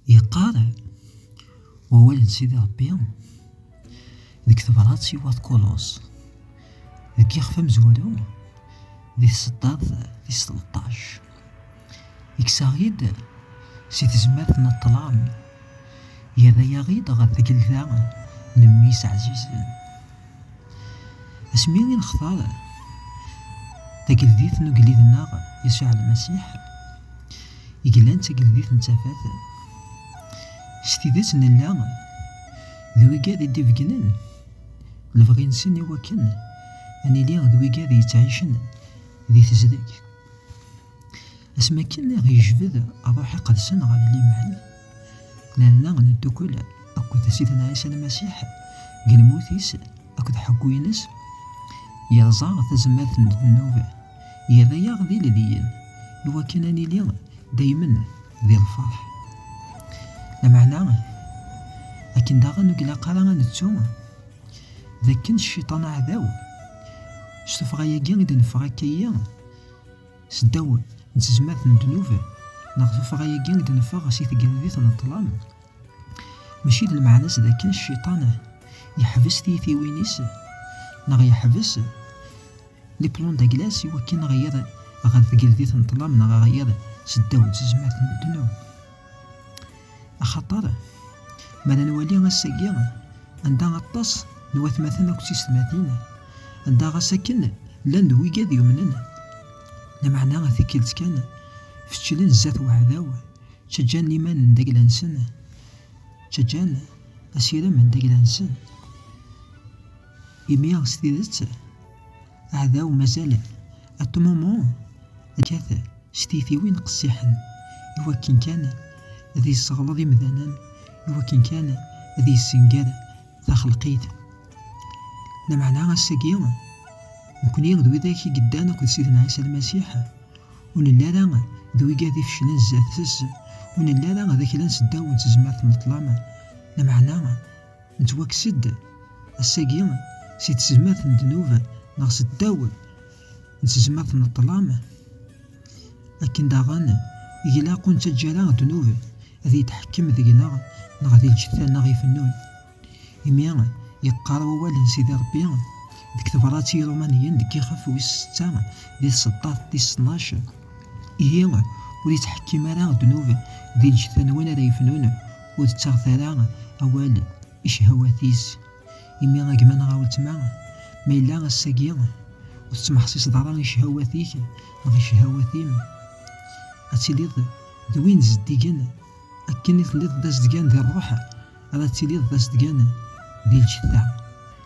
Yeqqar wawal n Sidi Ṛebbi deg tebrat i wat Kulos deg yixef amezwaru di tseṭṭart tis tleṭṭac i yesaɣ-id si tezmert n ṭṭlam yerra-yaɣ-id ɣer tgelda n mmi-s ɛzizen. Asmi i nextar tageldit n ugellid-nneɣ Yasuɛ Lmasiḥ, i yellan d tageldit n tafat, s tidet nella d wigad i d-ibeggnen lebɣi-nsen i wakken ad nili d wigad yettɛicen di tezdeg. Asmi akken i ɣ-yejbed ṛṛuḥ-iq ɣ-sen ɣer liman, nerna neddukkel akked Sidna Ɛisa Lmasiḥ deg lmut-is akked ḥeggu-ines, yerẓa tazmert n ddnub, yerra-aɣ d ilelliyen i wakken ad nili daymen di lferḥ. Lameɛna, akken daɣen ur ilaq ara ad nettu d akken cciṭan aɛdaw, s tuffɣa-yagi i d-neffeɣ akka-yi, S ddaw n tezmert n ddnub neɣ tuffɣa-agi i d-neffeɣ si tgeldit n ṭṭlam, mačči d lmeɛna-s d akken cciṭan yeḥbes tiytiwin-is neɣ yeḥbes liplon daglas i wakken ɣiyaḍ ɣer tgeldit n ṭṭlam neɣ ɣiyaḍ s ddaw n tezmert n ddnub. Axaṭer, mi ara nwali ass-agi, anda aṭas n watmaten akked tiysetmatin, anda ɣas akken llan d wigad yumnen, lameɛna tikkelt kan fecclen zdat uɛdaw, ttaǧǧan iman n dagla-nsen, ttaǧǧan asirem n dagla-nsen, imi s tidet, Aɛdaw mazal-t ad t-mumu ǧǧa-t s tiytiwin qessiḥen i wakken kan ad yesseɣleḍ imdanen, i wakken kan ad yessenger taxelqit. Lameɛna ass-agi, nekkni d widak i yeddan akked Sidna Ɛisa Lmasiḥ, ur nelli ara d wigad ifeclen sdat-s, ur nelli ara d aklan seddaw n tezmert n ṭṭlam, lameɛna Nettwakkes-d ass-agi si tezmert n ddnub neɣ s ddaw n tezmert n ṭṭlam, akken daɣen i ilaq ur nettaǧǧa ara ddnub ad yetḥekkem deg-neɣ neɣ di lǧetta-nneɣ ifennun. Imi yeqqar wawal n Sidi Ṛebbi deg tebṛat i Yiṛumaniyen deg yixef wis setta di tseṭṭaft tis tnac, Ihi ur ittḥekkim ara ddnub di lǧetta n win ara yefnun, ur tettaɣet ara awal i cehawat-is, imi a gma neɣ a weltma, ma yella ass-agi ur tettmeḥsiseḍ ara i cehawat-ik neɣ i cehawat-im, ad tiliḍ d win zeddigen, akken i telliḍ d azedgan di rruḥ, ara tiliḍ d azedgan di lǧetta.